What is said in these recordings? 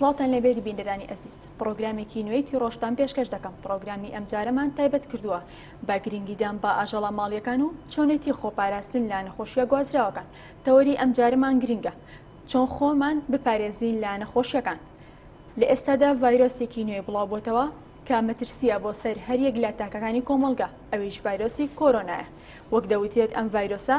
سڵاوتان لەبێت بینەرانی ئەزیز پرۆگرامێکی نوێی تیڕۆشتان پێشکەش دەکەم پرۆگرامی ئەم جارەمان تایبەت کردووە بە گرنگیدان بە ئاژەڵە ماڵیەکان و چۆنێتی خۆپاراستن لە نەخۆشیە گوازراوەکان تەوەری ئەم جارەمان گرنگە چۆن خۆمان بپارێزین لە نەخۆشیەکان؟ لە ئێستادا ڤایرۆسێکی نوێ بڵاوبۆتەوە کە مەترسیە بۆ سەر هەریەک لە تاکەکانی کۆمەڵگە ئەویش ڤایرۆسی کۆرۆنایە وەک دەوترێت ئەم ڤایرۆسە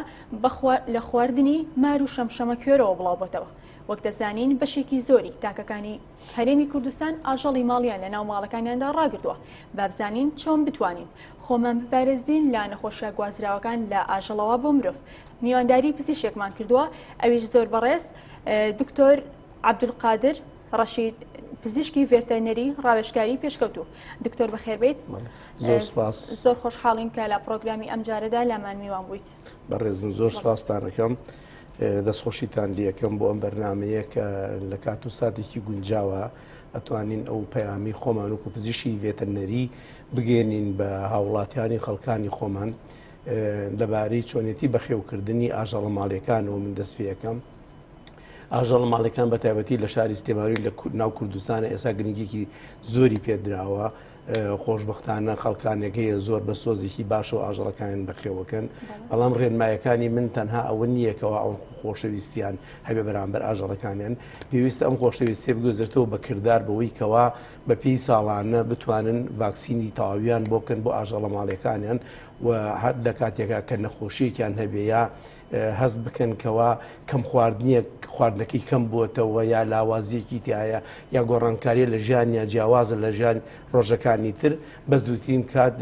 لە خواردنی مار و شەمشەمە کوێرەوە بڵاوبۆتەوە وەک دەزانین بەشێکی زۆری تاکەکانی هەرێمی کوردستان ئاژەڵی ماڵیان لە ناو ماڵەکانیاندا ڕاگرتووە، با بزانین چۆن بتوانین خۆمان بپارێزین لە نەخۆشیە گوازراوەکان لە ئاژەڵەوە بۆ مرۆڤ، میوانداری پزیشکێکمان کردووە ئەویش زۆر بەڕێز دکتۆر عبدالقادر ڕەشید پزیشکی ڤێرتەرنەری ڕاوێژکاری پێشکەوتوو دکتۆر بەخێربیت زۆر سپاس زۆر خۆشحاڵین کە لە پرۆگرامی ئەم جارەدا لامان میوان بوویت بەڕێزم زۆر سپاستانەکەم دەستخۆشیتان لەکەم بۆ ئەم بەرنمەیە کە لە کات و ساتێکی گونجاوە ئەتوانین ئەو پەیامی خۆمان و کوپزیشی ڤێتەنەری بگەێنین بە هاوڵاتیانی خەڵکانی خۆمان لەبارەی چۆنێتی بەخێوکردنی ئاژەڵە ماڵەکان و من دەست پێەکەم ئاژەڵ ماڵەکان بە تایبەتی لە شاری سلێماوی لە ناو کوردستانە ئێسا گرنگێکی زۆری پێدراوە خۆشبەختانە خەڵکانێک هەیە زۆر بە سۆزێکی باشەوە ئاژەڵەکانیان بەخێوەکەن، بەڵام ڕێنمایەکانی من تەنها ئەوە نییە کەوا ئەوان خۆشەویستیان هەبێ بەرامبەر ئاژەڵەکانیان، پێویستە ئەم خۆشەویستیە بگوێزرێتەوە بە کردار بەوەی کەوا بە پێی ساڵانە بتوانن ڤاکسینی تەواویان بۆ بکەن بۆ ئاژەڵە ماڵیەکانیان و هەر لە کاتێکا کە نەخۆشیەکیان هەبێ یا هەست بکەن کەوا کەم خواردنیەک خواردنەکەی کەم بووەتەوە یا لاوازیەکی تایە یا گۆڕانکاریە لە ژیان یا جیاوازە لە ژیان ڕۆژەکانی تر بەس دووترین کات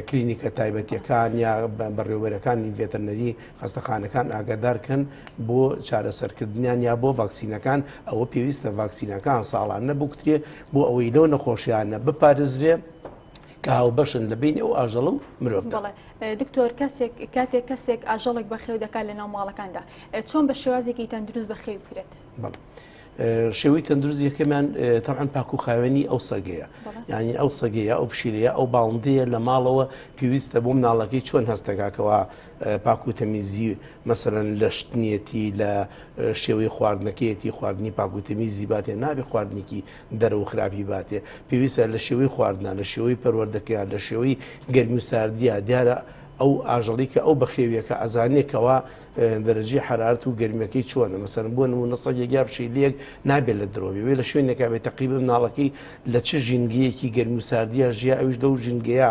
کلینیکە تایبەتیەکان یا بەڕێوەرەکانی ڤێتەنەری خستەخانەکان ئاگادارکەن بۆ چارەسەرکردنیان یا بۆ ڤاکسینەکان ئەوە پێویستە ڤاکسینەکان ساڵان نەبکترێ بۆ ئەوەی لەو نەخۆشیانە بپارێزرێ کە هاوبەشن لە بین ئەو ئاژەڵە و مرۆڤ دکتۆر کەسێک کاتێک کەسێک ئاژەڵێک بە خێو دەکات لە ناو ماڵەکاندا چۆن بە شێوازێکی تەندروست بە خێو بکرێت شێوی تەندروست یەکەمان تەعاان پاکوخاوێنی ئەو سەگەیە یعنی ئەو سەگەیە ئەو پشیلەیە ئەو باڵندەیە لە ماڵەوە پێویستە بۆ مناڵەکەی چۆن هەستەکەکەەوە پاکو تەمیزی مەسەرەن لە شتنیەتی لە شێوەی خواردنەکەیەتی خواردنی پاکوتەمیزی باتێ نابێ خواردنێکی دەرە و خراپی باتێ پێویستە لە شێوەی خواردنا، لە شێوەی پەروەردەکەیان، لە شێوەی گەرمی و ساردیا، دیارە ئەو ئاژەڵی کە ئەو بەخێویەکە ئەزانێ کەوا دەرەجی حەرارەت و گەرمیەکەی چۆنە مەسەرن بۆ نمونە سەگێک یا پشیلەیەک نابێت لە درۆبێ وێ لە شوێنێکا بێت تەقیبە مناڵەکەی لە چ ژینگەیەکی گەرمی و ساردیا ژیا ئەوش لەو ژینگەیە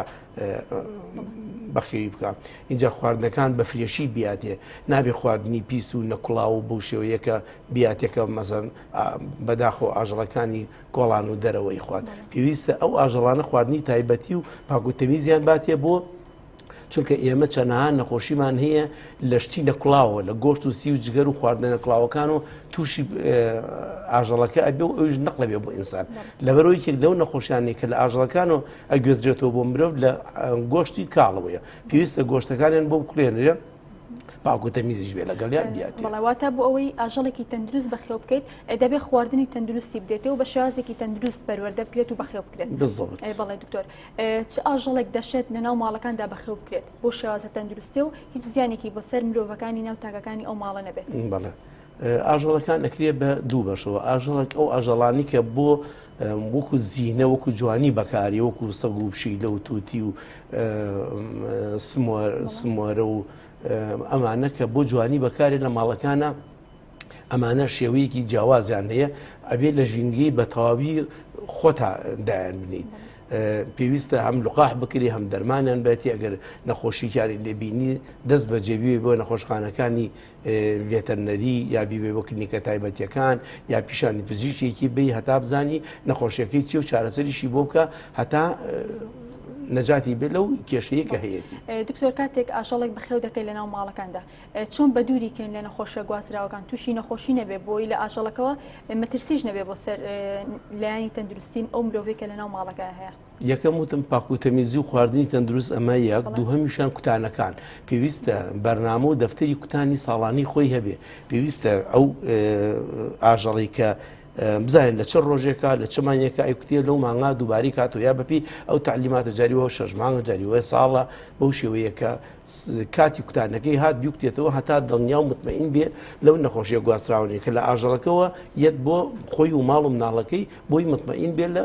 بەخێوی بکە اینجا خواردنەکان بە فرێشی بیاتێ نابێ خواردنی پیس و نەکڵاو و بەو شێوەیەکە بیاتێکە مەزەن بەداخەوە ئاژەڵەکانی کۆڵان و دەرەوەی خوارد پێویستە ئەو ئاژەڵانە خواردنی تایبەتی و پاکوتەمیزیان باتێ بۆ چونکە ئێمە چەنەها نەخۆشیمان هەیە لە شتی نەکڵاوە لە گۆشت و سی و جگەر و خواردنە نەکڵاوەکان و تووشی ئاژەڵەکە ئەبێ و ئەوش نەقلەبێ بۆ ئینسان لەبەرەوەی یەک لەو نەخۆشیانی کە لە ئاژەڵەکان و ئەگوێزرێتەوە بۆ مرۆڤ لە گۆشتی کاڵەوەیە پێویستە گۆشتەکانیان بۆ بکرێنرێ باوکو تەمیزیش بێ لەگەڵیان بیات بەڵاواتە بۆ ئەوەی ئاژەڵێکی تەندروست بەخێو بکەیت دەبێت خواردنی تەندروستی بدێتەوە بە شێوازێکی تەندروست پەروەەردە بکرێت و بەخێو بکرێت بەڵێ دکتۆر چ ئاژەڵێک دەشێت لەناو ماڵەکاندا بەخێو بکرێت بۆ شێوازە تەندروستی و هیچ زیانێکی بۆ سەر مرۆڤەکانی ناو تاکەکانی ئەو ماڵە نەبێت بەڵێ ئاژەڵەکان ئەکرێ بە دوو بەشەوە ئاژەڵک ئەو ئاژەڵانی کە بۆ وەکو زیینە وەکو جوانی بەکاری وەکو سەگ و بشی لە و تووتی و سمۆرە و ئەمانە کە بۆ جوانی بەکارێ لە ماڵەکانە ئەمانە شێوەیەکی جیاوازیان هەیە ئەبێت لە ژینگەی بە تەواوی خۆتا دایان بنیت. پێویستە هەم لقاح بکری هەم دەرمانیان بێتی ئەگەر نەخۆشییانی لێبینی دەست بەجێبی بۆ نەخۆشخانەکانی ڤێتەرنەری یا بیبەی بۆ کلنیکە تایبەتیەکان یا پیشانی پزیشکێکی بی هەتا بزانی نەخۆشیەکەی چی و چارەسەریشی بۆ بکە هەتا نەجاتی بێت لەو کێشەیە کە هەیەتی دکتۆر کاتێک ئاژەڵێک بەخێو دەکەی لە ناو ماڵەکاندا چۆن بە دووری کەین لە نەخۆشە گوازراوەکان تووشی نەخۆشی نەبێ بۆی لە ئاژەڵەکەەوە مەترسیش نەبێ بۆ سەر لایانی تەندروستیم ئەو مرۆڤێکە لە ناو ماڵەکە هەیە یەکەم وتم پاکوتەمیزی و خواردنی تەندروست ئەمە یەک دووهمیشان کوتانەکان پێویستە بەرنامە و دەفتەری کوتانی ساڵانی خۆی هەبێ پێویستە ئەو ئاژەڵی کە بزانین لە چ ڕۆژێکە لە چمانەکە ئەیکوتێ لەو مانا دووباری کات و یا بەپی ئەو تعلیماتە جاریەوە شەژمانە جاریوە ساڵە بەو شێوەیەکە کاتی کوتانەکەی هات بیکتێتەوە هەتا دڵنیا و مطمئین بێ لەو نەخۆشیە گواستراونێ کە لە ئاژەڵەکەەوە یەت بۆ خۆی و ماڵ و مناڵەکەی بۆی مطمئین بێ لە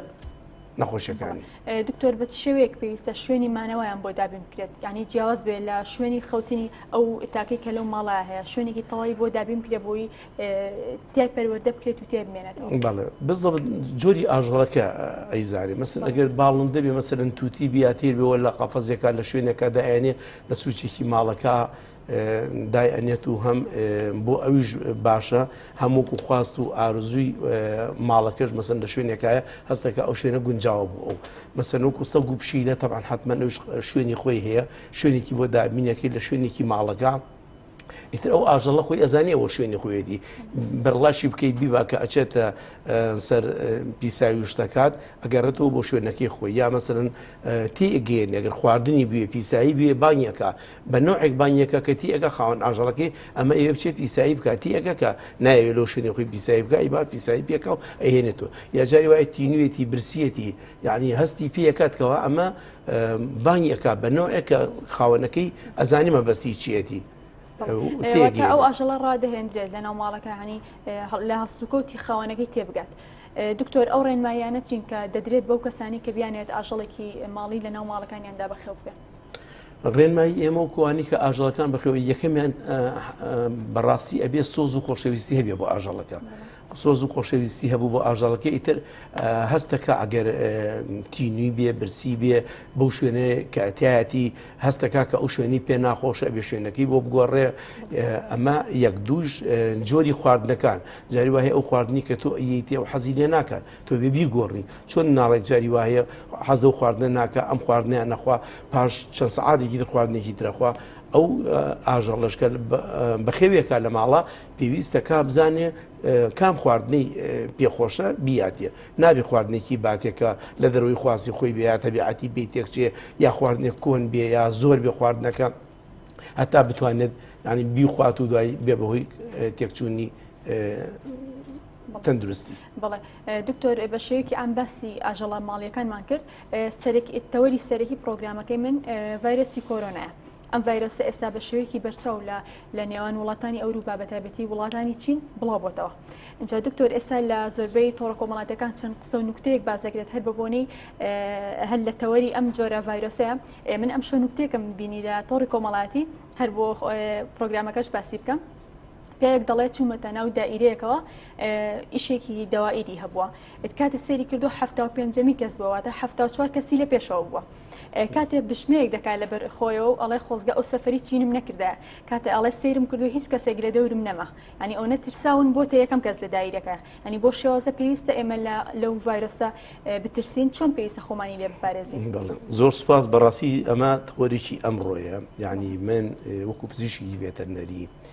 نەخۆشیەکانی دکتۆر بە شێوەیەک پێویستە شوێنی مانەوەیان بۆ دابین بکرێت ینی جیاواز بێت لە شوێنی خەوتنی ئەو تاکەی کە لەو ماڵە هەیە شوێنێکی تەواوی بۆ دابین کرێ بۆی تای پەروەەردە بکرێت و تێ بمێنێت بزڵ جۆری ئاژەڵەکە ئەیزانێ مەسن ئەگەر باڵند دەبێ مەسەرن تووتی بیاتێ بەوە لە قافەزیەکە لە شوێنەکە دایێنێ لە سوچێکی ماڵەکە دای ئەنێت و هەم بۆ ئەویش باشە هەم وەکو خواست و ئارزووی ماڵەکەش مەسن لە شوێنێکایە هەستەکە ئەو شوێنە گونجاوە بوو ئەو مەسەن وەکو سەگ و پشیلە تەبان حتممە نوش شوێنی خۆی هەیە شوێنێکی بۆ دابینەکەی لە شوێنێکی ماڵەکە ئیتر ئەو ئاژەڵە خۆی ئەزانانی ئەوە شوێنی خۆیەتی بەرڵاشی بکەیت بیبا کە ئەچێتە سەر پیساوی شتەکات ئەگەڕێتەوە بۆ شوێنەکەی خۆی یا مەسەرن تێگەێن ئەگەر خواردنی بوێ پیسایی بوێ بانیەکە بە نەوعێک بانگ یەکە کە تی ئەکا خاوەن ئاژەڵەکەی ئەمە ئەیەوێ بچێ پیسایی بکا تی ئەکە کە نایەوێ لەو شوێنی خۆی پیسایی بکا ئی با پیسایی پێ کە و ئەیهێنێتۆ یا جاری وایە تینوێتی برسیەتی یعنی هەستی پێ ئەکات کەوا ئەمە بانگی ئەکا بە نەوعێک کە خاوەنەکەی ئەزانی مەبەستی چیەتی تێگەی ئەو ئاژەڵە ڕادەهێندرێت لە ناو ماڵەکە هەنی لە هەڵسوکەوتی خاوەنەکەی تێبگات. دکتۆر ئەو ڕێنمایانە چین کە دەدرێت بەو کەسانی کە بیانێت ئاژەڵێکی ماڵی لە ناو ماڵەکانیاندا بەخێو بکەن. ڕێنمایی ئێمە و کوانی کە ئاژەڵەکان بخەوە یەکەمیان بەڕاستی ئەبێ سۆز و خۆشەویستی هەبێ بۆ ئاژەڵەکە سۆز و خۆشەویستی هەبوو بۆ ئاژەڵەکە ئیتر هەستەکە ئەگەر تینوی بێ برسی بێ بەو شوێنێ کەتیایەتی هەستەکە کە ئەو شوێنی پێ ناخۆشە بێ شوێنەکەی بۆ بگۆڕێ ئەمە یەک دووش جۆری خواردنەکان جاری وایە ئەو خواردنی کە تۆ ئەیتی ئەو حەزی لێ ناکات تۆبێ بیگۆڕی چۆن ناڵێ جاری وایە حەز لەو خواردنە ناکە ئەم خواردنیان نەخوا پاش چەند سەعاتێکی تر خواردنێکی ترەخوا ئەو ئاژەڵەشکە بەخێوێکە لە ماڵە پێویستە کا بزانێ کام خواردنەی پێخۆشە بیاتێ نابێ خواردنێکی باتێکە لە دەروی خواسی خۆی بێت تەبیعەتی بی تێکچێ یا خواردنێک کۆن بێ یا زۆر بێ خواردنەکە هەتا بتوانێت ینی بیخوات و دوای بێ بەهۆی تێکچوونی تەندروستی بەڵێ دکتۆر بە شێوەیەکی ئام باسی ئاژەڵە ماڵیەکانمان کرد تەوەری سەرەکی پرۆگرامەکەی من ڤایرۆسی کۆرۆنایە ئەم ڤایرۆسە ئێستا بە شێوەیەکی بەرچاو لە لە نێوان وڵاتانی ئەوروپا بە تایبەتی وڵاتانی چین بڵاو بۆتەوە اینجا دکتۆر ئێستا لە زۆربەی تۆڕە کۆمەڵاتەکان چەند قسە و نوکتەیەک بازەکرێت هەر بەبوونی هەر لە تەوەری ئەم جۆرە ڤایرۆسەیە من ئەم شە نوکتێکم بینی لە تۆڕی کۆمەڵاتی هەر بۆ پرۆگرامەکەش باسی بکەم پیاوێک دەڵێت چوومەتە ناو دائیرەیەکەوە ئیشێکی دەوائیری هەبووە ئت کاتێ سێری کردو حفتا و پێنجەمی کەس بووەواتە حفتا و چوار کەسی لە پێشەوە بووە کاتێ بشمەیەک دەکات لە بەر خۆیەوە و ئەڵێ خۆزگە ئەو سەفری چینم نەکردە کاتێ ئەڵێ سێرم کردو هیچ کەسێک لە دەورم نەما ینی ئەو نەترساون بۆتە یەکەم کەس لە دایرەکە ینی بۆ شێوازە پێویستە ئێمە لە لەو ڤایرۆسە بترسین چۆن پێویستە خۆمانی لێ بپارێزین زۆر سپاس بەڕاستی ئەمە تەوەرێکی ئەمڕۆیە یعنی من وەکو پزیشکی ڤێتەرنەری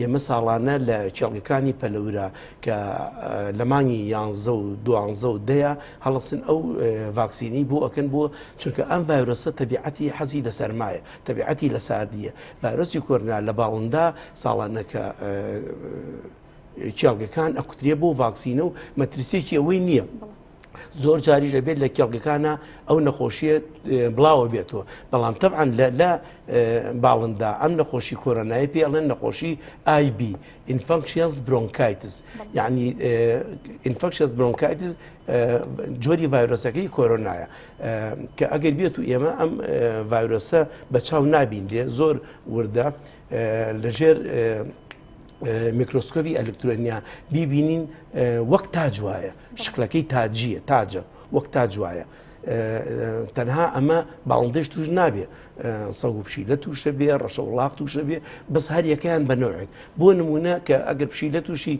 ئێمە ساڵانە لە کێڵگەکانی پەلەورە کە لە مانگی یانزە و دوانزە و دەیە هەڵسن ئەو ڤاکسینی بۆ ئەکەن بۆ چونکە ئەم ڤایرۆسە تەبیعەتی حەزی لە سەرمایە تەبیعەتی لە ساردیە ڤایرۆسی کۆرنا لە باڵندا ساڵانەکە کێڵگەکان ئەکوترێ بۆ ڤاکسینە و مەترسیێکی ئەوەی نییە. زۆر جاریش دەبێت لە کێڵگەکانە ئەو نەخۆشیە بڵاوە بێتەوە بەڵام تەعاان لە باڵندا ئەم نەخۆشی کۆرۆنای پێ ئەڵێن نەخۆشی آیB ئینفەکشنس برۆنکایتس یعنی ئینفەکشنس برۆنکایتس جۆری ڤایرۆسەکەی کۆرۆنایە کە ئەگەر بێت و ئێمە ئەم ڤایرۆسە بە چاو نابینرێ زۆر وردە لەژێر میکرۆسکۆبی ئەلکترۆنیا بیبینین وەک تاج وایە شکلەکەی تاجیە تاجە وەک تاج وایە تەنها ئەمە باڵندەش توش نابێ سەگ و پشیلە تووشە بێ ڕەشە وڵاق تووشە بێ بەس هەر یەکەیان بە نەوەک بۆ نمونە کە ئەگەر پشیلە تووشی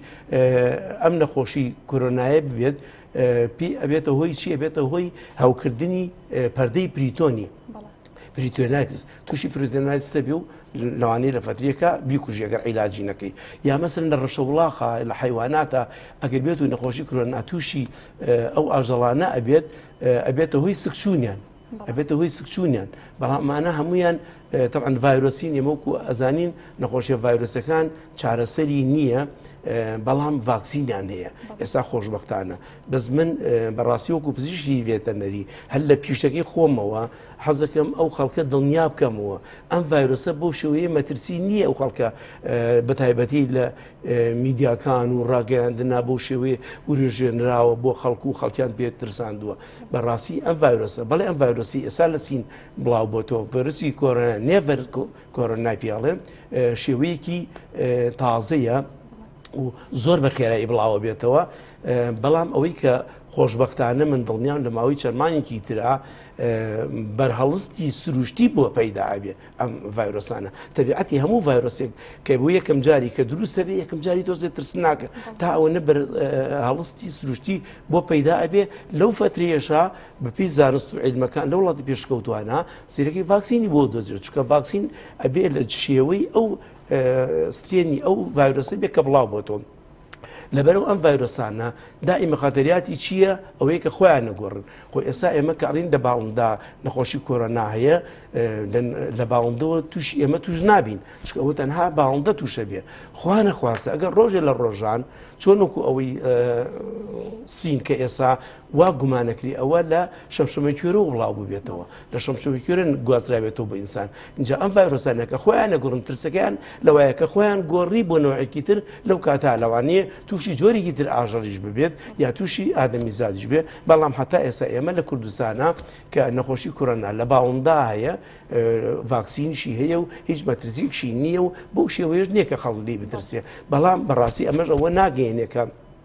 ئەم نەخۆشی کۆرۆنایە ببێت پێ ئەبێتە هۆی چی ئەبێتە هۆی هەوکردنی پەردەی پریتۆنی پریتۆناتیس توشی پریتەنایتس دەبی و لەوانەیە لە فەتریەکە بیکوژی ئەگەر عیلاجی نەکەی یا مەسەن لە ڕەشە وڵاخە لە حیواناتە ئەگەر بێت و نەخۆشی کرۆنا تووشی ئەو ئاژەڵانە ئەبێت ئەبێتە هۆی سکچوونیان ئەبێتە هۆی سکچوونیان بەڵامانە هەمویان تەعاان ڤایرۆسین ئێمەکو ئەزانین نەخۆشیە ڤایرۆسەکان چارەسەری نییە بەڵام ڤاکسینیان هەیە ئێستا خۆشببختانە بەس من بەڕاستی وەکو پزیشکی ڤێتەنەری هەر لە پیشەکەی خۆمەوە حەزەکەم ئەو خەڵکە دڵنیا بکەمەوە ئەم ڤایرۆسە بۆ شێوەیە مەترسی نییە ئەو خەڵکە بە تایبەتی لە میدیاکان و ڕاگەیاندنا بۆ شێوەیە وروژێنراوە بۆ خەڵکو و خەڵکیان پێ ترساندووە بەڕاستی ئەم ڤایرۆسە بەڵێ ئەم ڤایرۆسی ئێسا لە چین بڵاو بۆ تۆ ڤەرسی کۆرە نێڤەر کۆرە ناپیاڵێن شێوەیەکی تازەیە و زۆر بە خێرایی بڵاوەبێتەوە بەڵام ئەوەی کە خۆشببختانە من دڵنیام لە ماوەی چەرمانێکی ترا بەرهەڵستی سروشتی بووە پەیدا ئەبێ ئەم ڤایرۆسانە تەبیعەتی هەموو ڤایرۆسێک کە بۆ یەکەم جاری کە دروستە بێ یەکەم جاری تۆزێ ترسناکە تا ئەوە نە هەڵستی سروشتی بۆ پەیدا ئەبێ لەو فترێشا بەپی زانست و عیلمەکان لە وڵاتی پێشکەوتوانە سیرەکەی ڤاکسینی بۆ دۆزیێت چکە ڤاکسین ئەبێ لە شێوەی ئەو سترێنی ئەو ڤایرۆسە بێ کە بڵاو بۆتەوە. لەبەرو ئەم ڤایرۆسانە دائیمە خەتەریاتی چییە ئەوەیە کە خۆیان نەگۆڕن خۆ ئێستا ئێمە کەڕین لە باڵندا نەخۆشی کۆرۆنا هەیە لە باڵندەوە توش ئێمە توش نابین چکە ئەوە تەنها باڵندە تووشە بێ خوانە خواستە ئەگەر ڕۆژێ لە ڕۆژان چۆنکو ئەوەی سین کە ئێسا وا گومانەکری ئەوە لە شەمشەمەکوێرەوە بڵاو ببێتەوە لە شەمشەمەکوێرە گوازراوێتەوە بە ئینسان اینجا ئەم ڤایرۆسانە کە خۆیان نەگوڕن ترسەکەیان لەوایە کە خۆیان گۆڕی بۆ نەوەیەکی تر لەو کاتا لەوانەیە تووشی جۆرێکی تر ئاژەڵیش ببێت یا تووشی ئادەمی زادیش بێ بەڵام هەتا ئێستا ئێمە لە کوردستانە کە نەخۆشی کورۆنا لە باوەمدا هەیە ڤاکسینشی هەیە و هیچ مەترسیکشی نییە و بەو شێوەیەش نییە کە خەڵلی بترسێ بەڵام بەڕاستی ئەمەش ئەوە ناگەێنێکە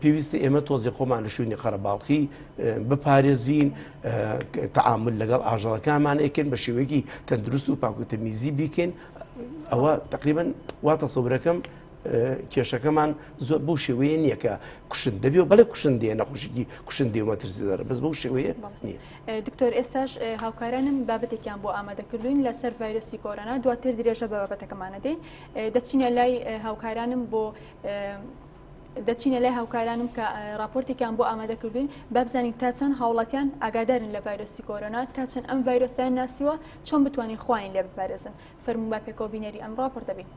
پێویستە ئێمە تۆزێ خۆمان لە شوێنی قەرەباڵخی بپارێزین تعامل لەگەڵ ئاژەڵەکانمان ئەکەن بە شێوەیەکی تەندروست و پاکوتەمیزی بیکەین ئەوە تقریبن وا تەسەورەکەم کێشەکەمان زۆر بۆ شێوەیە نییە کە کوشن دەبێ و بەڵێ کوشن دێ نەخۆشیی کوشن دێوە ترسیدار بەس بەو شێوەیە نییە دکتۆر ئێستاش هاوکارانم بابەتێکیان بۆ ئامادەکردوین لەسەر ڤایرۆسی کۆرۆنا دواتر درێژە بە بابەتەکەمانە دێ دەچینە لای هاوکارانم بۆ دەچینە لای هاوکارانم کە راپۆرتێکیان بۆ ئامادە کردوین با بزانین تا چەند هاوڵاتیان ئاگادارن لە ڤایرۆسی کۆرۆنا تا چەند ئەم ڤایرۆسیان ناسیوە چۆن بتوانین خوین لێ بپارێزن فەرموو با پێکەوە بینەری ئەم راپۆرتە بین.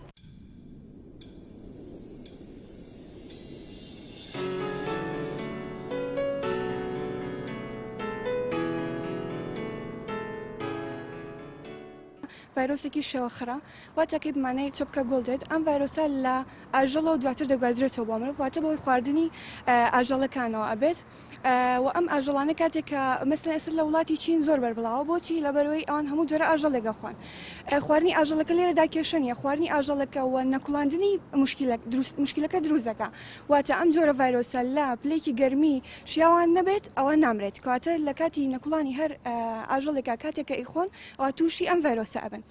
ڤایرۆسێکی شێوە خڕە واتە کەی بمانەی چەپکە گۆڵ دێت ئەم ڤایرۆسە لە ئاژەڵە و دواتر دەگوازرێتەوە بۆ مرۆڤ واتە بەوەی خواردنی ئاژەڵەکانەوە ئەبێت و ئەم ئاژەڵانە کاتێک کە مەسلە ئێستا لە وڵاتی چین زۆر بەربڵاوە بۆچی لەبەرەوەی ئەوان هەموو جۆرە ئاژەڵێگە خوان خواردنی ئاژەڵەکە لێرەدا کێشە نیە خواردنی ئاژەڵەکە و نەکوڵاندنی مشکلە دروست مشکلەکە دروستەکە واتە ئەم جۆرە ڤایرۆسە لە پلێکی گەرمی شیاوان نەبێت ئەوە نامرێت کاتە لە کاتی نەکوڵانی هەر ئاژەڵێکا کاتێکە ئیخۆن ئەوا تووشی ئەم ڤایرۆسە ئەبن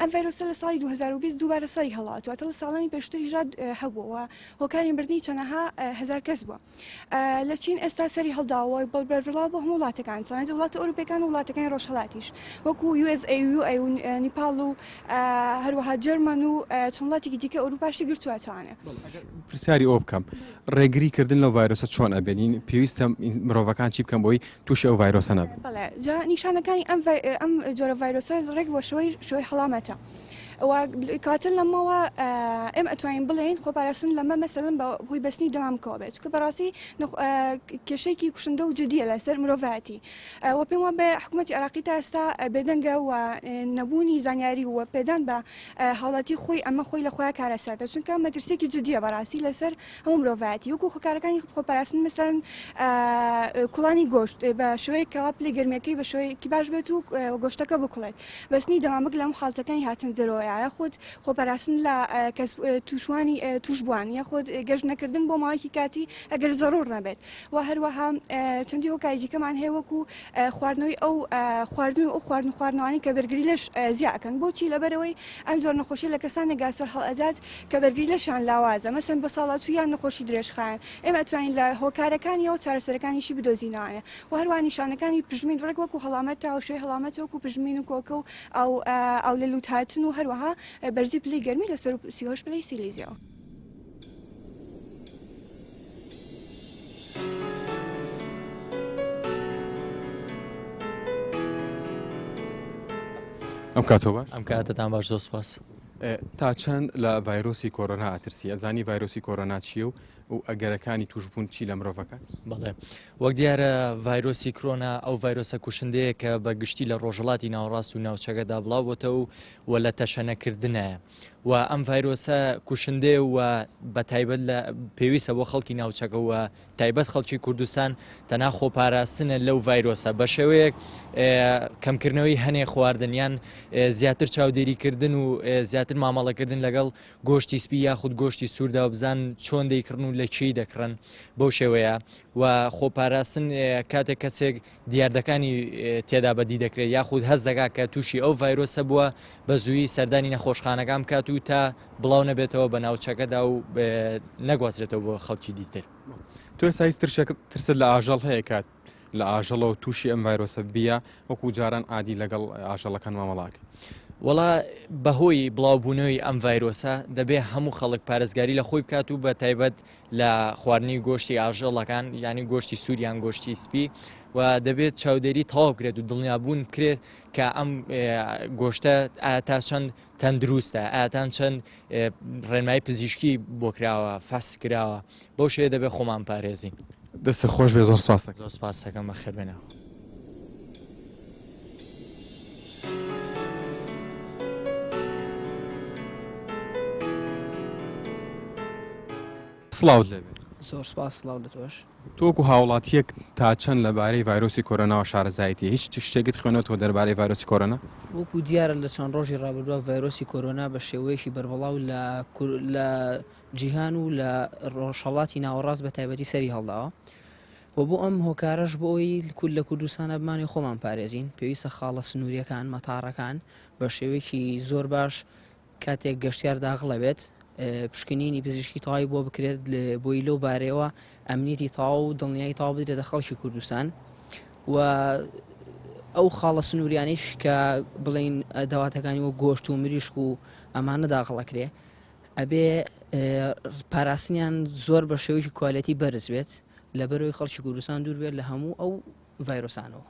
ئەم ڤایرۆسە لە ساڵی 2020 دووبارە سەری هەڵاتوە تەڵ ساڵانی پێشتری ژاد هەبووەوە هۆکاری بردننی چەنەها هزار کەس بووە لە چین ئێستا سەری هەڵداوە بەڵ بەربڵا بۆ هەموو وڵاتەکان چۆنێت وڵاتە ئەوروپەکان و وڵاتەکانی ڕۆژهڵاتیش وەکو نیپال و هەروەها جەرمەن و چەند وڵاتێکی دیکە ئەوروپاشی گرتووەتوانێ پرسیاری ئەو بکەم ڕێگری کردن لە ڤایرۆسە چۆن ئەبێنین پێویستە مرۆڤەکان چی بکەم بۆی تووشی ئەو ڤایرۆسە نابن. بەڵێ جا نیشانەکانی ئەم ئەم جۆرە ڤایرۆسە ڕێک بۆ شوی شوی حەڵامەتە و کاتە لەمەوە ئێم ئەتوانین بڵێین خۆپاراستن لەمە مەسەلم بە هۆی بەستنی دەمام کۆبێت چکە بەڕاستی کێشێکی کوشندە و جدیە لەسەر مرۆڤەتی و پێم وە بە حکوومەتتی عراقی تا ئێستا بێدەنگە و نەبوونی زانیاری وە پێدان بە هاوڵاتی خۆی ئەمە خۆی لە خۆیان کارەساتە چونکە مەترسێکی جدیە بەڕاستی لەسەر هەموو مرۆڤایەتی وەکو خۆکارەکانی خۆپاراستن مەسەن کوڵانی گۆشت بە شوەیە کەوا پلی گەرمەکەی بە شوەیەکی باش بێت و گۆشتەکە بکڵێت بەستنی دەمامک لەم حالتەکانی هاتن دەرەوە یاە خۆت خۆپاراستن لە کەس توشوانی توشبووان یا خۆت گەشت نەکردن بۆ ماوەیەکی کاتی ئەگەر زەڕور نەبێت و هەروەها چەندی هۆکاری دیکەمان هەیە وەکو خواردنەوەی ئەو خواردن و خواردن خواردنەوانی کە بەرگری لەش زیاکەن بۆچی لەبەرەوەی ئەم جۆر نەخۆشی لە کەسانی گاسەر هەڵئەدات کە بەرگری لەشان لاوازە مەسن بە ساڵاچوو یان نەخۆشی درێژخایەن ئێمە توانین لە هۆکارەکانیەوە چارەسەرەکانیشی بدۆزینەوانە و هەروە نیشانەکانی پژمین ڕێک وەکو هەڵامەت تاوشێ هەڵامەت وەکو پژمین و کۆکە و ئەو ئەو لە لووت هاتن و هەروەها بەرزی پلی گەرمی لەسەر و سیهۆش پلی سیلیزیەوە ئەم کاتۆ باش ئەم کاتتان باش زۆ سپاس تا چەند لە ڤایرۆسی کۆرۆنا ئاترسی ئەزانی ڤایرۆسی کۆرۆنا چیە و و ئەگەرەکانی توشببوون چی لە مرۆڤەکان بڵێ وەک دیارە ڤایرۆسی کرۆنا ئەو ڤایرۆسە کوشندەیە کە بە گشتی لە ڕۆژەڵاتی ناوەڕاست و ناوچەکەدا بڵاوبتە و و لە تەشەنەکردنایە و ئەم ڤایرۆسە کوشندەیە و بە تایبەت لە پێویستە بۆ خەڵکی ناوچەکە و تایبەت خەڵکی کوردستان تەنا خۆپاراستنە لەو ڤایرۆسە بە شێوەیەک کەمکردنەوەی هەنێ خواردنیان زیاتر چاودێریکردن و زیاتر مامەڵەکردن لەگەڵ گۆشتی سپی یاخود گۆشتی سووردا و بزان چۆن دەیکڕن و لە چی دەکڕن بەو شێوەیە و خۆپاراستن کاتێک کەسێک دیاردەکانی تێدا بەدی دەکرێت یاخود هەست دەکات کە تووشی ئەو ڤایرۆسە بووە بە زووی سەردانی نەخۆشخانەکان بکات و تا بڵاو نەبێتەوە بە ناوچەکەدا و نەگوازرێتەوە بۆ خەڵکی دیتر تۆ سایز ترسە لە ئاژەڵ هەیە کات لە ئاژەڵەوە تووشی ئەم ڤایرۆسە بیە وەکو جاران عادی لەگەڵ ئاژەڵەکان مامەڵاک وڵا بەهۆی بڵاوبوونەوەی ئەم ڤایرۆسە دەبێ هەموو خەڵک پارێزگاری لە خۆی بکات و بە تایبەت لە خواردنی گۆشتی ئاژەڵەکان یانی گۆشتی سووریان گۆشتی سپی و دەبێت چاودێری تەواو کرێت و دڵنیابوون بکرێت کە ئەم گۆشتە ئاتا چەند تەندروستە ئاتان چەند ڕێنمای پزیشکی بۆ کراوە فاس کراوە بەو شێ دەبێت خۆمان پارێزین دەست خۆش بێ زۆر سپاس سپاسەکەم بە خێر بێنەوە سڵاوت لێ بێت. زۆر سپاس سڵاو لە تۆش. تۆ وەکو هاوڵاتیەک تا چەند لەبارەی ڤایرۆسی کۆرۆناوە شارەزایەتی هیچ شتێکت خوێنەوەتەوە دەربارەی ڤایرۆسی کۆرۆنا؟ وەکو دیارە لە چەند ڕۆژی ڕابردووە ڤایرۆسی کۆرۆنا بە شێوەیەکی بەربڵاو لە لە جیهان و لە ڕۆژهەڵاتی ناوەڕاست بە تایبەتی سەری هەڵداوە. و بۆ ئەم هۆکارەش بۆ ئەوەی کورد لە کوردستانە بمانەوێت خۆمان بپارێزین پێویستە خاڵە سنوورییەکان، مەتاڕەکان بە شێوەیەکی زۆر باش کاتێک گەشتیار داغڵە بێت پشکنینی پزیشکی تەواوی بۆ بکرێت بۆی لەو بارەیەوە ئەمنیتی تاو و دڵنیایی تاو بدرێتە خەڵکی کوردستان و ئەو خاڵە سنووریانیش کە بڵین داواتەکانی وە گۆشت و مریشک و ئەمانە داخڵەکرێ ئەبێ پاراستنیان زۆر بە شێوەیەکی کوالەتی بەرز بێت لە بەرەوەی خەڵکی کوردستان دوور بێت لە هەموو ئەو ڤایرۆسانەوە.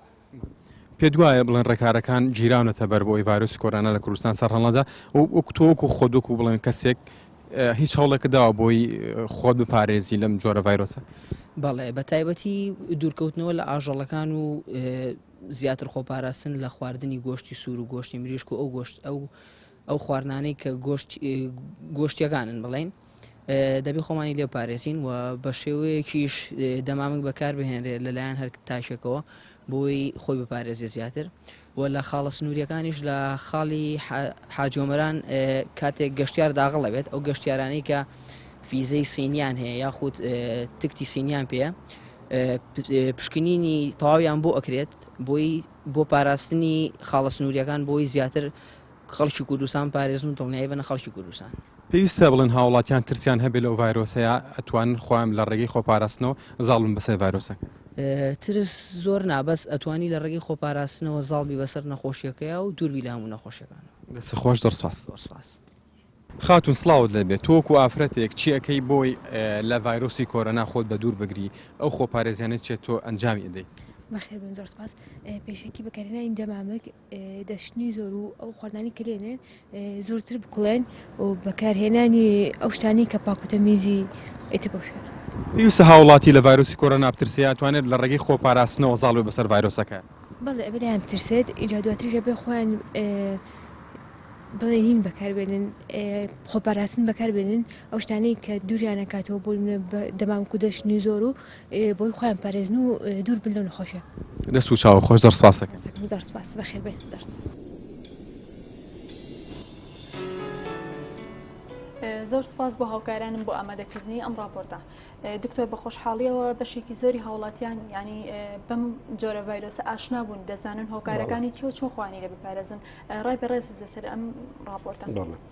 پێ دوایە بڵێن ڕێکارەکان گیراونەتە بەر بۆی ڤایرۆسی کۆرانە لە کوردستان سەرهەڵنەدا وەک تۆک و خۆدوک و بڵێن کەسێک هیچ هەوڵێکە داوە بۆی خۆت بپارێزی لەم جۆرە ڤایرۆسە بەڵێ بە تایبەتی دوورکەوتنەوە لە ئاژەڵەکان و زیاتر خۆپاراستن لە خواردنی گۆشتی سوور و گۆشتی مریشک و ئەو گۆشت ئەو ئەو خواردنانەی کە گۆشتیەکانن بڵێین دەبی خۆمانی لێ پارێزین و بە شێوەیەکیش دەمامک بەکاربهێنرێت لەلایەن هەر تاشێکەوە بۆی خۆی بپارێزی زیاتر و لە خاڵە سنووریەکانیش لە خاڵی حاجۆمەران کاتێک گەشتار داغڵەبێت ئەو گەشتارانەی کە فیزەی سینیان هەیە یاخود تکتی سینیان پێەیە پشکنینی تەواویان بۆ ئەکرێت بۆی بۆ پاراستنی خاڵە سنووریەکان بۆی زیاتر خەڵکی کوردستان پارێزن و دڵنیایی بەنە خەڵکی کوردستان. پێویستە بڵێن هاوڵاتیان ترسیان هەبێت لەو ڤایرۆسەیا ئەتوانن خۆیان لە ڕێگەی خۆپاراستنەوە زاڵ بن بەسەر ڤایرۆسەکە. ترس زۆر نا بەس ئەتوانی لە ڕێگەی خۆپاراستنەوە زاڵ بی بەسەر نەخۆشیەکەیا و دوور بی لە هەموو نەخۆشیەکان. دەست خۆش زۆر سوپاس. زۆر سوپاس. خاتون سڵاوت لێبێ تۆ وەکو ئافرەتێک چی ئەکەی بۆی لە ڤایرۆسی کۆرۆنا خۆت بە دوور بگری ئەو خۆپارێزیانە چێت تۆ ئەنجامی ئەدەی. بەخێربێن زۆر سوپاس پێشەکی بەکارهێنانی دەمامک. دەشتنی زۆر و ئەو خواردنانەی کە لێنێن زۆرتر بکوڵێن و بەکارهێنانی ئەو شتانەی کە پاک و تەمیزی ئیتر بەو شوێنە. پێویستە هاووڵاتی لە ڤایرۆسی کۆرۆنا بترسێ یان توانێت لە ڕێگەی خۆپاراستنەوە زاڵ بێ بەسەر ڤایرۆسەکە؟ بەڵێ ئەبێ لێیان بترسێت ئینجا دواتریش ئەبێ خۆیان بڵێ نین بەکاربێنن خۆپاراستن بەکاربێنن ئەو شتانەی کە دووریان ئەکاتەوە بۆ نمونە دەمامک و دەشتنی زۆر و بۆی خۆیان پارێزن و دوور بن لەو نەخۆشیە. دەست و چاو خۆش زۆر سپاست دەکەم. هەر زۆر سپاس بەخێر بێن زۆر سپاس. زۆر سپاس بۆ هاوکارانم بۆ ئامادەکردنی ئەم ڕاپۆرتە دکتۆر بە خۆشحاڵیەوە بەشێکی زۆری هاوڵاتیان ینی بەم جۆرە ڤایرۆسە ئاشنا بوون دەزانن هۆکارەکانی چۆ چۆخوانی لە بپارێزن ڕای بەڕێز لەسەر ئەم ڕاپۆرتە.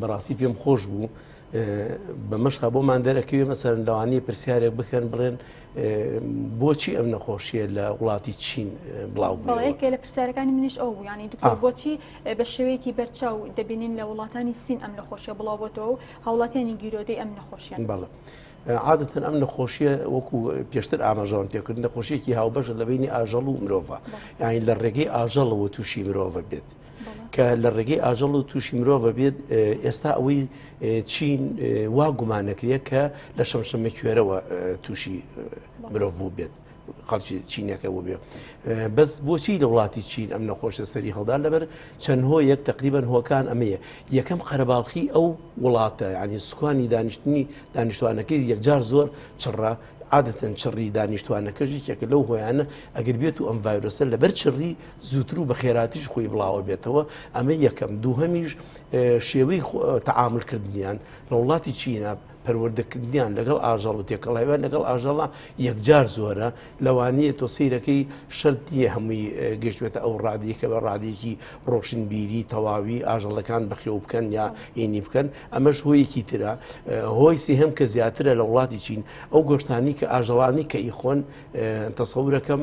بەڕاستی پێم خۆش بوو بەمەشقا بۆمان دەرەکەوێ مەسەر لەوانی پرسیارێک بکەن بڵێن بۆچی ئەم نەخۆشیە لە وڵاتی چین بڵاو بڵێکێ لە پرسیارەکانی منیش ئەو بوویانی دکتۆر بۆچی بە شێوەیەکی بەرچاو دەبینین لە وڵاتانی سین ئەم نەخۆشیە بڵاوبەتەوە و هاوڵاتیانی گیرۆدەی ئەم نەخۆشیان بەڵە. عادەتەن ئەم نەخۆشیە وەکو پێشتر ئاماژەوان پێکرد نەخۆشیێکی هاوبەشە لە بینی ئاژەڵ و مرۆڤ یاین لە ڕێگەی ئاژەڵەوە تووشی مرۆڤ بێت. کە لە ڕێگەی ئاژەڵ و تووشی مرۆڤە بێت ئێستا ئەوەی چین وا گومانەکرێت کە لە شەمشەمە کوێرەوە تووشی مرۆڤ بوو بێت. خەڵکی چینەکە بۆ بێ بەس بۆچی لە وڵاتی چین ئەم نەخۆشە سەری هەڵدا لەبەر چەند هۆ یەک تقریبان هۆکان ئەمەیە یەکەم قەرەباڵخی ئەو وڵاتە ینی سوکانی دانیشتنی دانیشتوانەکەی یەکجار زۆر چڕە عادەتەن چڕی دانیشتوانەکەژی چێکە لەو هۆیانە ئەگەر بێت و ئەم ڤایرۆسە لەبەر چڕی زووتر و بەخێراتریش خۆی بڵاوەبێتەوە، ئەمە یەکەم، دووهەمیش شێوەی تەعامول کردنیان لە وڵاتی چینە، پەروەردەکردنیان لەگەڵ ئاژەڵ و تێکەڵاویان لەگەڵ ئاژەڵە یەکجار زۆرە، لەوانەیە تۆ سەیرەکەی شەرت نییە هەمووی گەشتبێتە ئەو ڕادەیە کە بە ڕادەیەکی ڕۆشنبیری تەواوی ئاژەڵەکان بەخێو بکەن یا ئینی بکەن، ئەمەش هۆیەکی ترە، هۆی سێهەم کە زیاترە لە وڵاتی چین ئەو گۆشتانی کە ئاژەڵانی کە ئیخۆن تەسەورەکەم،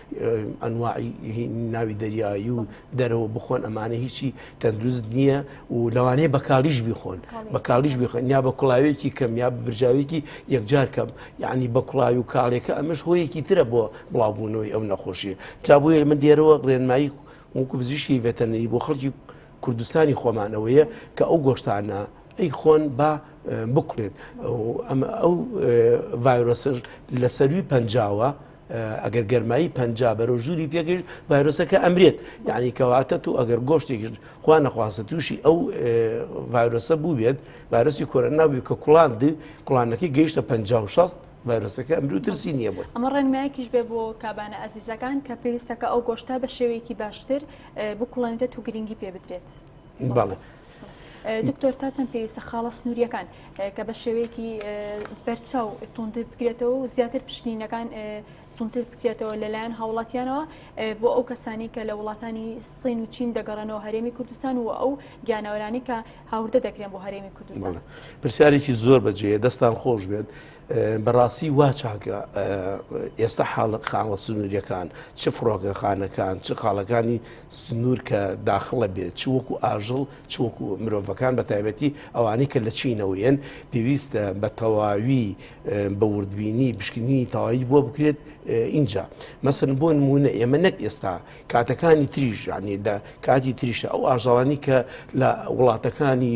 ئەنواعی ناوی دەریایی و دەرەوە بخۆن ئەمانە هیچی تەندروست نییە و لەوانەیە بە کاڵیش بیخۆن بە کاڵیش بخۆن یا بە کوڵاوێکی کەم یا برژاوێکی یەکجار کەم یعنی بە کوڵاوی و کاڵێکە ئەمەش هۆیەکی ترە بۆ بڵاوبوونەوەی ئەو نەخۆشیە تا بۆیە من دێرەوە ڕێنمایی وەکو بزیشی ڤێتەنەری بۆ خەڵکی کوردستانی خۆمانەوەیە کە ئەو گۆشتانە ئەی خۆن با بکڵێت ئەو ڤایرۆسش لە سەروی پەنجاوە ئەگەر گەرمایی پەنجا بەرەو ژووری پێگەشت ڤایرۆسەکە ئەمرێت یعنی کەواتە تو ئەگەر گۆشتێکیش خوا نەخواستە تووشی ئەو ڤایرۆسە بووبێت ڤایرۆسی کۆرە ناوی کە کوڵان دی کوڵانەکەی گەیشتە پ شست ڤایرۆسەکە ئەمر و ترسی نییە بۆی ئەمە ڕێنمایەکیش بێ بۆ کابانە ئازیزەکان کە پێویستەکە ئەو گۆشتا بە شێوەیەکی باشتر بکوڵێنێت و گرنگی پێ بدرێت بەڵێ. دکتۆر تا چەند پێویستە خاڵە سنووریەکان کە بە شێوەیەکی بەرچاو تونتر بکرێتەوە و زیاتر پشتینەکان تونتر بکرێتەوە لەلایەن هاوڵاتیانەوە بۆ ئەو کەسانی کە لە وڵاتانی سین و چین دەگەڕنەوە هەرێمی کوردستان و ئەو گیانەوەرانی کە هاوردە دەکرێن بۆ هەرێمی کوردستان پرسیارێکی زۆر بەجێ دەستان خۆش بێت بەڕاستی وا چاکە ئێستا حاڵق خاوە سنووریەکان چ فڕۆکەخانەکان چ خاڵەکانی سنوور کە داخڵە بێت چ وەکو ئاژڵ چ وەکو مرۆڤەکان بە تایبەتی ئەوانەی کە لە چینەوەیەن پێویستە بە تەواوی بە وردبینی بشکنینی تەواوی بۆ بکرێت اینجا مەسن بۆ نمونە ئێمە نەک ئێستا کاتەکانی تریژ یعنی لە کاتی تریشە ئەو ئاژەڵانی کە لە وڵاتەکانی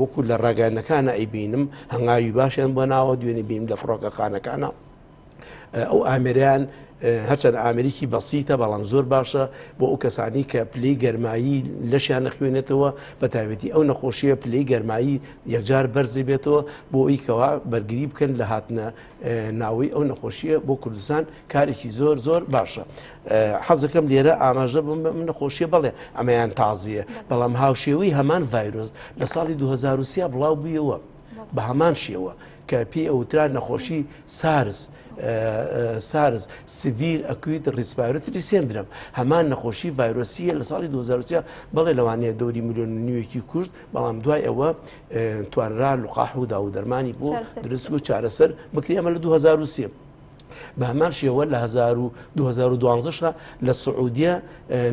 وەکو لە ڕاگەیاندنەکانە ئەیبینم هەنگاوی باشیان بۆ ناوە دوێنێ بینیم لە فڕۆکەخانەکانە ئەو ئامریان هەرچەند ئامریکی بەسیتە بەڵام زۆر باشە بۆ ئەو کەسانی کە پلی گەرمایی لەشیان نەخوێنێتەوە بە تاوێتی ئەو نەخۆشیە پلی گەرمایی یەکجار بەرزی بێتەوە بۆ ئەویکەوە بەرگری بکەن لە هاتنە ناوەی ئەو نەخۆشیە بۆ کوردستان کارێکی زۆر زۆر باشە حەزەکەم لێرە ئاماژە بم من نەخۆشیە بڵێ ئەمەیان تازیە بەڵام هاوشێوەی هەمان ڤایرۆز لە ساڵی 2023 بڵاو بوویەوە بە هەمان شێوە کە پێی ئەوترا نەخۆشی سارس سارز سڤیر ئەکویت ڕیسپارتری سندرم هەمان نەخۆشی ڤایرۆسیە لە ساڵی 2023 بەڵێ لەوانەیە دەوری میلیۆن نیوێکی کورد بەڵام دوای ئەوە توانرا لقاح و داوودەرمانی بۆ درست و چارەسەر بکری ئەمە لە 2023 بە هەمان شێوە لە 2012 لە سعودیە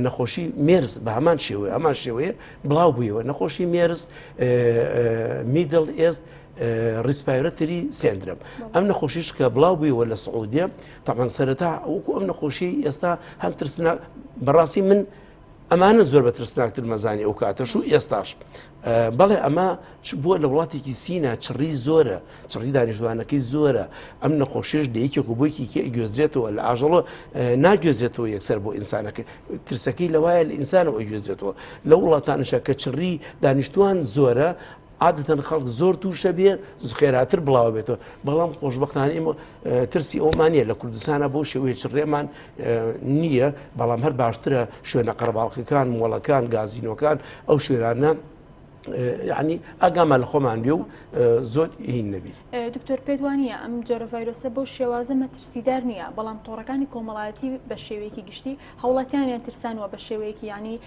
نەخۆشی مێرز بە هەمان شێوەیە هەمان شێوەیە بڵاو بوویەوە نەخۆشی مێرز میدل ئێست ریسپایرەتری سندرم ئەم نەخۆشیش کە بڵاو بوویەوە لە سعودیە تامان سەرەتا وەکو ئەم نەخۆشی ئێستا هەم ترسنا بەڕاستی من ئەمانە زۆر بە ترسناکتر مەزانی ئەو کاتەش و ئێستاش بەڵێ ئەمە بووە لە وڵاتێکی سینا چڕی زۆرە چڕی دانیشتوانەکەی زۆرە ئەم نەخۆشیش لە یەکێک و بۆیکی گوێزرێتەوە لە ئاژەڵۆ ناگوێزرێتەوە یەکسەر بۆ ئینسانەکە ترسەکەی لەوایە لە ئینسانەوە گوێزرێتەوە لە وڵاتانشە کە چڕی دانیشتوان زۆرە عادەتەن خەڵک زۆر تووشە بێ خێراتر بڵاو بێتەوە بەڵام خۆشببختانە ئمە ترسی ئەومان نیە لە کوردستانە بۆ شێوەیە چ ڕێمان نییە بەڵام هەر باشترە شوێنە قەرباڵخەکان مۆڵەکان گازینۆکان ئەو شوێرانە ینی ئاگامان لە خۆمان بێ و زۆر هین نەبی دکتۆر پێدوانە ئەم جۆرە ڤایرۆسە بۆ شێوازە مەترسیدار نییە بەڵام تۆڕەکانی کۆمەڵایەتی بە شێوەیەکی گشتی هەوڵاتیانیان ترسانوە بە شێوەیەکی ینی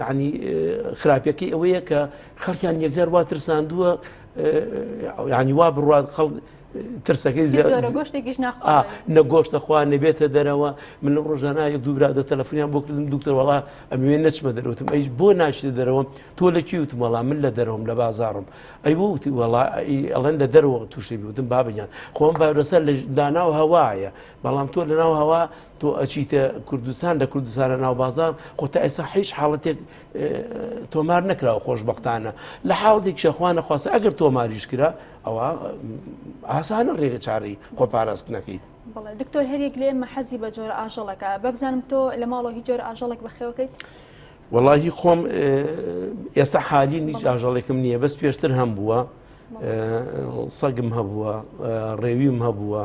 یەعنی خراپیەکەی ئەوەیە کە خەڵکیان یەکجار وا ترساندووە ینی وا بڕات خەڵ ترسەکەی نەگۆشتە خوا نەبێتە دەرەوە من لە ڕۆژانە یەک دوورا دە تەلەفۆنیان بۆ کردم دوکتەرەوەڵا ئەمێ نەچمە دەرەوتم ئەیش بۆ ناشتە دەرەوە تۆ لە کی وتم وەڵام من لە دەرەوەم لە بازارم ئەی بۆ وتی وەڵا ئەڵەن لە دەرەوە تووشی بوتم بابگیان خۆم ڤایرۆسە لە داناو هەوایە بەڵام تۆ لەناو هەوا تۆ ئەچیتە کوردستان لە کوردستانە ناو بازار خۆ تا ئێسا حیش حاڵەتێک تۆمار نەکراوە خۆشببختانە لە حاڵێک شەخوانە خواستە ئەگەر تۆماریش کرا ئەوە ئاسانە ڕێگە چارەی خۆ پاراست نەکەیت بڵێ دکتۆر هەرێک لێ ئمە حەزی بە جۆرە ئاژەڵەکە بەبزانم تۆ لە ماڵەوە هی جۆر ئاژەڵێک بەخێوەکەیت وەڵی خۆم ئێستا حالی نیچ ئاژەڵێکم نییە بەس پێشتر هەم بووە سەگم هەبووە ڕێویم هەبووە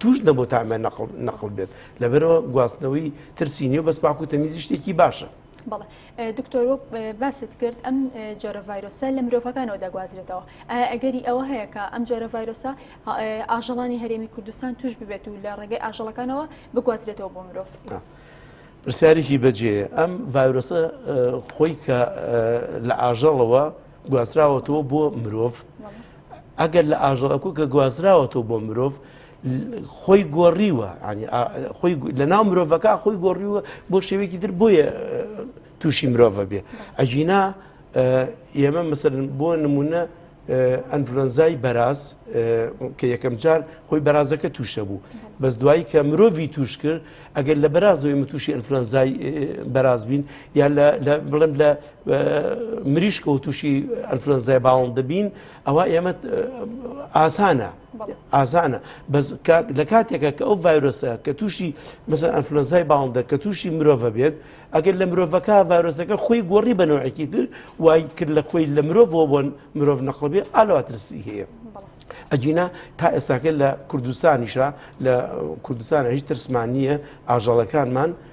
توش نەبوو تا ئەمە نەقڵ نەقڵ بێت لەبەرەوە گواستنەوەی ترسی نیە بەس پاکو تەمیزی شتێکی باشە. بەڵێ دکتۆر وەک باست کرد ئەم جۆرە ڤایرۆسە لە مرۆڤەکانەوە دەگوازرێتەوە ئەگەری ئەوە هەیە کە ئەم جۆرە ڤایرۆسە ئاژەڵانی هەرێمی کوردستان توش ببێت و لە ڕێگەی ئاژەڵەکانەوە بگوازرێتەوە بۆ مرۆڤ. پرسیارێکی بەجێ ئەم ڤایرۆسە خۆی کە لە ئاژەڵەوە گواستراوەتەوە بۆ مرۆڤ ئەگەر لە ئاژەڵەکو کە گوازراوەتەوە بۆ مرۆڤ خۆی گۆڕیوە خۆی لە ناو مرۆڤەکە خۆی گۆڕیوە بۆ شێوێکی تر بۆیە تووشی مرۆڤە بێ ئەجینا ئێمە مەسەر بۆ نمونە ئەنفلۆنزای بەراز کە یەکەم جار خۆی بەرازەکە تووشە بوو بەس دوایی کە مرۆڤی توش کرد ئەگەر لە بەرازەوەی متوشی ئەنفلۆنزای بەراز بین یا بڵم لە مریشک و تووشی ئەنفلۆنزای باڵند دەبین ئەوە ئێمە ئاسانە ئازانە بەس لە کاتێکە کە ئەو ڤایرۆسە کە تووشی مەسەر ئەنفلۆنزای باڵندە کە تووشی مرۆڤە بێت ئەگەر لە مرۆڤەکە ڤایرۆسەکە خۆی گۆڕی بەنەوەکی تر وای کرد لە خۆی لە مرۆڤەوە بۆن مرۆڤ نەقلبێ ئالوا ترسی هەیە. ئەجینا تا ئێستاکە لە کوردستانیشە لە کوردستان هیچ ترسمانە ئاژەڵەکانمان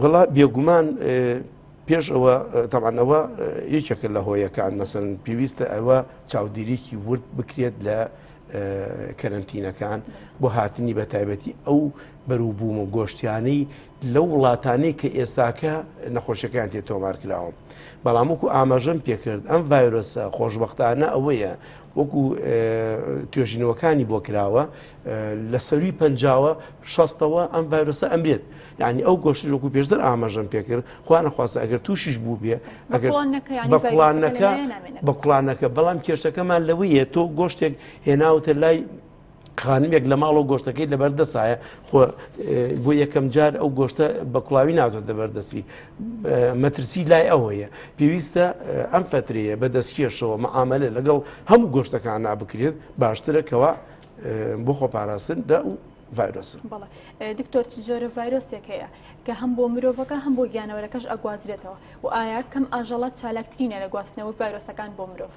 وەڵا بێگومان پێش ئەوە تەوان ئەوە یەکێکە لە هۆیەکان مەسن پێویستە ئەوە چاودێریکی ورد بکرێت لە کەرنتینەکان بۆ هاتنی بە تایبەتی ئەو بەروبووم و گۆشتیانەی لە وڵاتانی کە ئێستاکە نەخۆشیەکان تێ تۆمار کراوە بەڵام وەکو ئاماژەم پێکرد ئەم ڤایرۆسە خۆشببختانە ئەوەیە وەکو توێژینەوەکانی بۆ کراوە لە سەروی پەنجاوە شەستەوە ئەم ڤایرۆسە ئەمرێت یعنی ئەو گۆشتش وەکو پێشتر ئاماژەم پێکرد خوا نەخواستە ئەگەر تووشیش بوو بێ ئەگەر بە کوڵانەکە بە کوڵانەکە بەڵام کێشەکەمان لەوەیە تۆ گۆشتێک هێناوتە لای خانمێک لە ماڵەوە گۆشتەکەی لەبەر دەسایە خۆ بۆ یەکەم جار ئەو گۆشتە بە کوڵاوی نادۆت دەبەردەسی مەترسی لای ئەوەیە پێویستە ئەم فترەیە بە دەستکێشەوە مەعاملە لەگەڵ هەموو گۆشتەکان نابکرێت باشترە کەوا بۆ خۆپاراستن لە و ڤایرۆسە بەڵێ دکتۆر چ جۆرە ڤایرۆسێک هەیە کە هەم بۆ مرۆڤەکە هەم بۆ گیانەوەرەکەش ئەگوازرێتەوە و ئایا کەم ئاژەڵە چالاکترینە لە گواستنەوە ڤایرۆسەکان بۆ مرۆڤ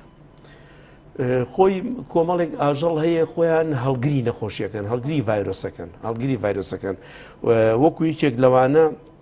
خۆی کۆمەڵێک ئاژەڵ هەیە خۆیان هەڵگری نەخۆشیەکەن هەڵگری ڤایرۆسەکەن هەڵگری ڤایرۆسەکەن وەکو یەکێک لەوانە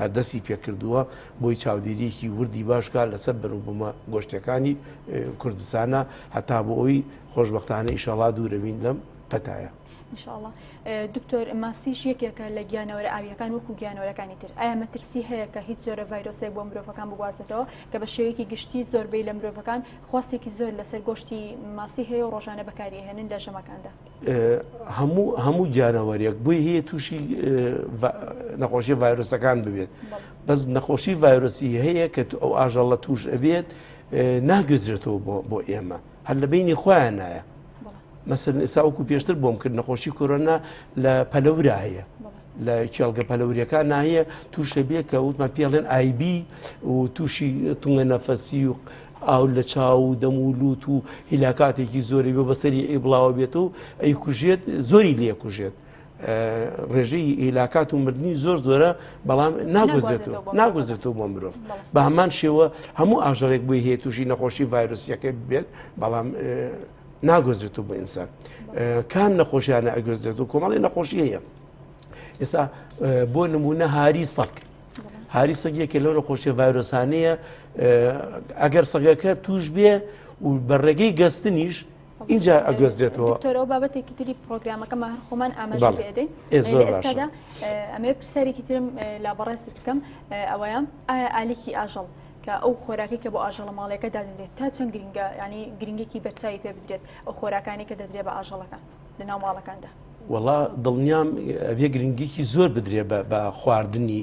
هەر دەستی پێکردووە، بۆی چاودێرییەکی وردی باش بکات لەسەر بەروبوومە گۆشتەکانی کوردستانە، هەتا بۆ ئەوی خۆشبەختانە ئیشەڵا دوورەبین لەم پەتایە. انشاءاللە دکتۆر ماسیش یەکێکە لە گیانەوەرە ئاویەکان وەکو گیانەوەرەکانی تر ئایا مەترسی هەیە کە هیچ جۆرە ڤایرۆسێک بۆ مرۆڤەکان بگوازێتەوە کە بە شێوەیەکی گشتی زۆربەی لە مرۆڤەکان خواستێکی زۆر لەسەر گۆشتی ماسی هەیە و ڕۆژانە بەکاریهێنن لە ژەمەکاندا هەموو هەموو گیانەوەریەک بۆی هەیە تووشی نەخۆشی ڤایرۆسەکان ببێت بەس نەخۆشی ڤایرۆسی هەیە کە تو ئەو ئاژەڵە توش ئەبێت ناگوێزرێتەوە بۆ ئێمە هەر لە بینی خۆیان نایە مەسن ئێساوەکو پێشتر بۆم کرد نەخۆشی کۆرۆنا لە پەلەورا هەیە لە کێڵگە پەلەوریەکان ناهیە توش دەبێت کە وتمان پێڵێن ئایبی و تووشی تونگە نەفەسی و ئاو لە چاو و دەم و لووت و هیلاکاتێکی زۆری بۆ بەسەری ئی بڵاوە بێت و ئەی کوژێت زۆری لێ کوژێت. ڕێژەی هیلاکات و مردنی زۆر زۆرە بەڵام ناگوزێتەوە ناگوزێتەوە بۆ مرۆڤ بە هەمان شێوە هەموو ئاژەڵێک بۆی هەیە تووشی نەخۆشی ڤایرۆسیەکە بێت بەڵام ناگوزرێت و بۆ ئینسان کام نەخۆشیانە ئەگوزرێت و کۆمەڵی نەخۆشی هەیە ئێستا بۆ نمونە هاری سەک هاری سەگیەکە لەو نەخۆشیە ڤایرۆسانەیە ئەگەر سەگەکە توش بێ و بە ڕێگەی گەستنیش اینجا ئەگوێزرێتەوە دکتۆرەوە بابەتێکی تری پرۆگرامەکەمە هەر خۆمان ئاماژە پێدەین ئێستادا ئەمێ پرسیارێکی ترم لا بەڕێزت بکەم ئەوەیە ئایا ئالیکی ئاژەڵ کە ئەو خۆراکەی کە بۆ ئاژەڵە ماڵیەکە دادەنرێت تا چەند گرنگە یانی گرنگێکی بەرچوی پێ بدرێت ئەو خۆراکانی کە دەدرێت بە ئاژەڵەکان لە ناو ماڵەکاندا. وەڵا دڵنیام ئەبێ گرنگیکی زۆر بدرێ بە خواردنی